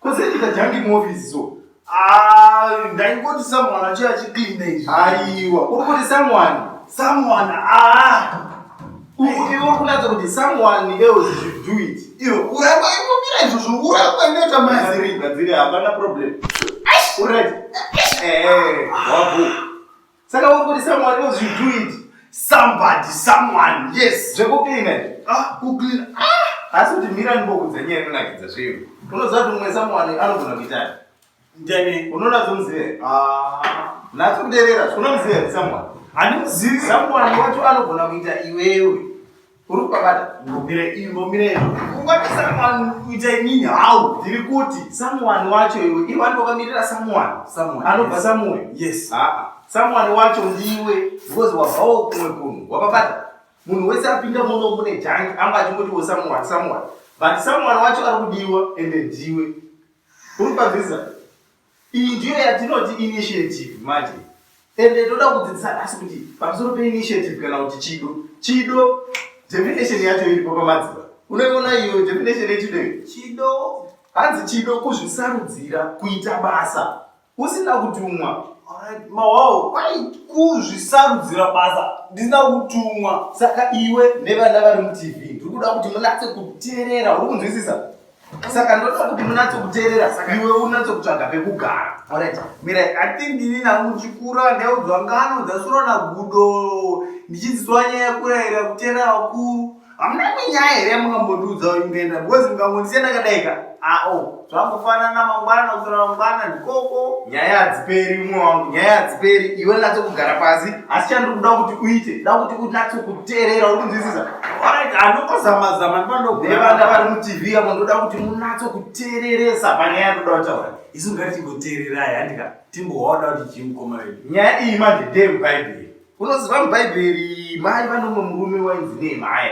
Kozendita jangi muoffice so. Ah, ndaingoti someone achiya achicleana izvi. Aiwa, uri kuti someone? Someone, ah. Iwe kunatsa kuti someone else should do it. Iwe uramba imbomira izvo zvouramba inoita maziri. Gadziri hapana problem. Uri right? Eh, wabu. Saka uri kuti someone else you do it. Somebody, someone, yes. Zvekucleana izvi. Ah, kucleana. Ah, asi kuti mira ndibokudza nyaya inonakidza zveyo. Unoziva kuti mumwe someone anogona kuitani. Ndani. Unoona zvomuzive. Ah, natso kuderera. Unomuzive someone. Handimuzivi. Someone wacho anogona kuita iwewe. Uri kubata ngomire ingomire iyo. Ungati someone kuita inini how? Ndiri kuti someone wacho iwe. Iwe wani wakamirira someone. Someone. Anobva someone. Yes. Ah. ah. Someone wacho ndiwe because wabvawo kumwe kunhu. Wapabata. Munhu wese apinda muno mune jank anga achingotiwo someone someone. But someone wacho ari kudiwa ende ndiwe. Uri kubata Iyi ndiyo yatinoti initiative manje. Ende toda kudzidzisa nhasi kuti pamusoro peinitiative kana kuti chido. Chido definition yacho iripo pamadziva. Unoiona iyo definition yechido iyo? Chido hanzi chido kuzvisarudzira kuita basa usina kutumwa. Alright, mawawo kwai kuzvisarudzira basa ndisina kutumwa. Saka iwe nevana vari mutv ndiri kuda kuti munatse kuteerera uri kunzwisisa saka ndoda kuti munatsokuteerera saka iwe unatsokutsvaga pekugara orit mira i think ini namuchikura ndaudzwa ngano dzasuro nagudo ndichidzidzwa nyaya kurayira kuteerera vakuru hamuna minyaya here yamungambotiudza ingaenda because mukangondisiya ndakadaika ao ah, zvangofanana mangwana kusora mangwana ndikoko nyaya hadziperi umwe wangu nyaya hadziperi iwe natsokugara pasi asi chandiri kuda kuti uite da kuti unatse kuteerera uri kunzwisisa orit anongozamazama ndivandoevana vari mutv avo ndoda kuti munatse kuteereresa panyaya ndoda kutaura isu ngati timboteererai handika timboona kuti chii mukoma vedu nyaya iyi manje ndeye mubhaibheri unoziva mubhaibheri mai vanomwe murume wainzi nehemaya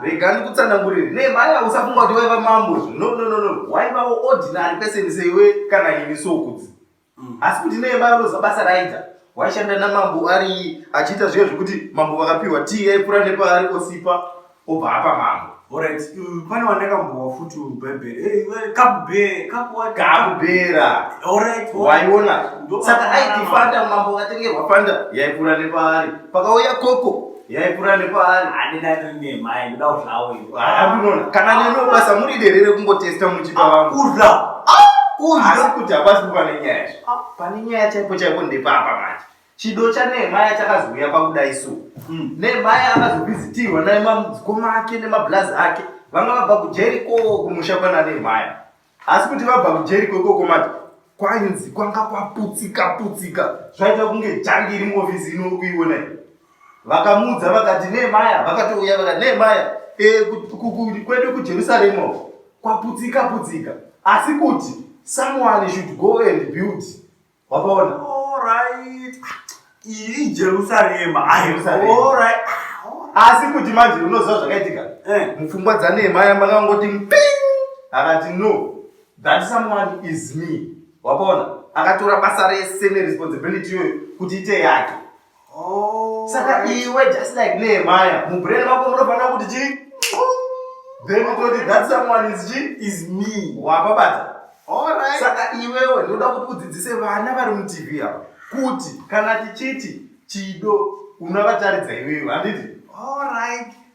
rega ndikutsanangurire nehemaya usafunga kuti waiva mambo no no no no waivawo ordinary person seiwe kana ini sokudzi Mm. Asi kuti nei baba roza basa raita waishanda namambo ari achiita zviya zvekuti mambo vakapiwa tii yaipura nepaari osipa obva apa mambo Alright, mm, pane wandakambowa futi mubhaibheri Eh, iwe, kabube kakuwa kakubera Alright, alright. waiona Ndo- saka aitifanda mambo akatengerwa fanda yaipura nepaari pakauya koko yaikura nepaari handina tiri nemai ndoda kuzvawo inoona kana neno basa muri derere kungotesta muchipa vangu kudla asi kuti hapasi kuva nenyaya zve pane nyaya chaipo chaipo ndepapa manje chido chanehemaya chakazouya pakuda isu hmm. nehemaya akazovizitirwa namamudzikoma ake nemablazi ake vanga vabva kujeri ko kumusha kwana nehemaya asi kuti vabva kujeriko ikoko mati kwainzi kwanga kwaputsika putsika zvaita kunge jangi iri muofisi ino kuiona i vakamuudza vakati nemaya vakatouya vakati nemaya e, kwedu kujerusarema kwaputsika putsika asi kuti someone should go and build Wabaona? All right. Iri Jerusarema. Ah, Jerusarema. All right. Ah, Asi kuti manje unoziva zvakaitika. Eh. Mupfungwa dzaNehemia makangoti mping. Akati no. That someone is me. Wabaona? Akatora basa rese neresponsibility iyoyo kuti ite yake. saka iwe just like nehemaya mubrain mako munofanira kuti chii then utoti that someone is chii is me wapabata saka iwewe ndoda kuti udzidzise vana vari mutv ava kuti kana tichiti chido unavataridzaiwewe handiti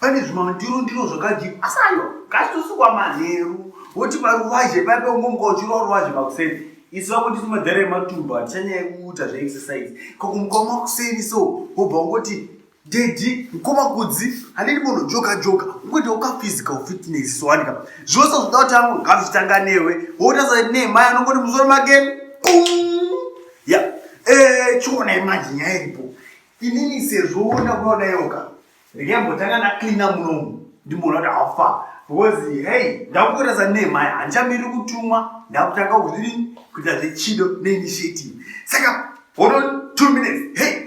pane zvimandiro ndiro zvakadii asi ayo ngatitosukwa manheru woti paruvazhe paipe ungomuka uchirwa ruvazhe makuseni isu vakundisi madhara ematumba handichanyaya kuuta zveexercise kakumuka makuseni so wobva ungoti dedi nkomakudzi handidi munhu joka joka ungoita ukaphysical fitness sowanika zvose zvoda kuti angu ngazvitanga newe wotaza nemai anongoti musoro make ya eh, chiona imanje nyaya iripo inini sezvo wona kunoda yoka Regai mbotanga na cleaner munomu ndimboona kuti how far because hey ndakukurasa ne mai hanchamiri kutumwa ndakutanga kuzviri kuita zvechido ne initiative saka hold on 2 minutes hey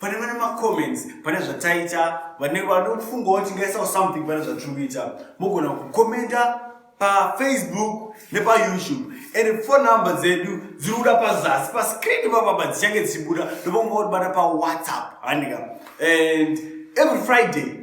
pane vane macomments pane zvataita vane vanofungawo tingaisawo something pane zvatiri kuita mogona kukomenta pafacebook nepayoutube and phone number dzedu dziri kuda pazasi pascreen papapa dzichange dzichibuda ndopanguva kutibata pawhatsapp handika and every friday